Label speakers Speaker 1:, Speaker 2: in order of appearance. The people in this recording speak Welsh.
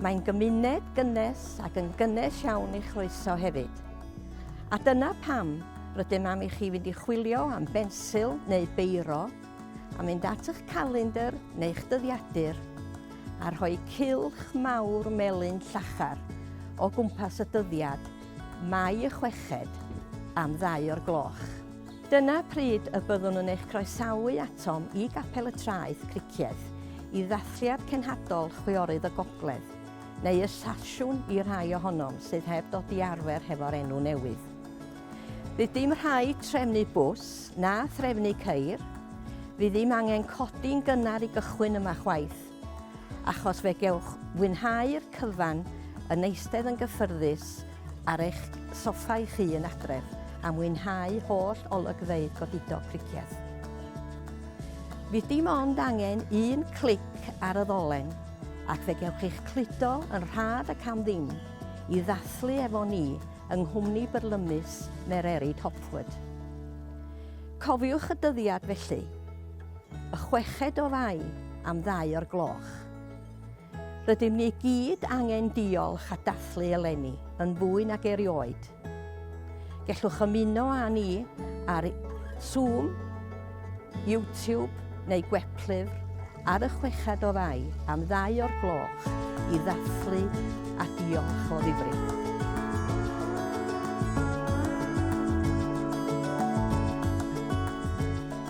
Speaker 1: Mae'n gymuned gynnes ac yn gynnes iawn i chroeso hefyd. A dyna pam rydym am i chi fynd i chwilio am bensil neu beiro, a mynd at eich calendr neu'ch dyddiadur, a rhoi cylch mawr melyn llachar o gwmpas y dyddiad, Mai y chweched, am ddau o'r gloch. Dyna pryd y byddwn yn eich croesawu atom i Gapel y Traeth, Cricieth, i ddathliad cenhadol Chwiorydd y Gogledd, neu y Sasiwn i rai ohonom sydd heb ddod i arfer hefo'r enw newydd. Fydd dim rhaid trefnu bws, na threfnu ceir, fydd ddim angen codi'n gynnar i gychwyn yma chwaith. achos fe gewch fwynhau'r cyfan yn eistedd yn gyffyrddus ar eich soffa eich hun adref a mwynhau holl olygfeydd godidog Pricieth. Fydd dim ond angen un clic ar y ddolen ac fe gewch eich cludo yn rhad ac am ddim i ddathlu efo ni yng nghwmni byrlymus Mererid Hopwood. Cofiwch y dyddiad felly! y chweched o Fai am ddau o'r gloch. Rydym ni gyd angen diolch a dathlu eleni yn fwy nag erioed. Gellwch ymuno â ni ar Zoom, YouTube neu gweplyfr ar y chweched o Fai am ddau o'r gloch i ddathlu a diolch o ddifrif.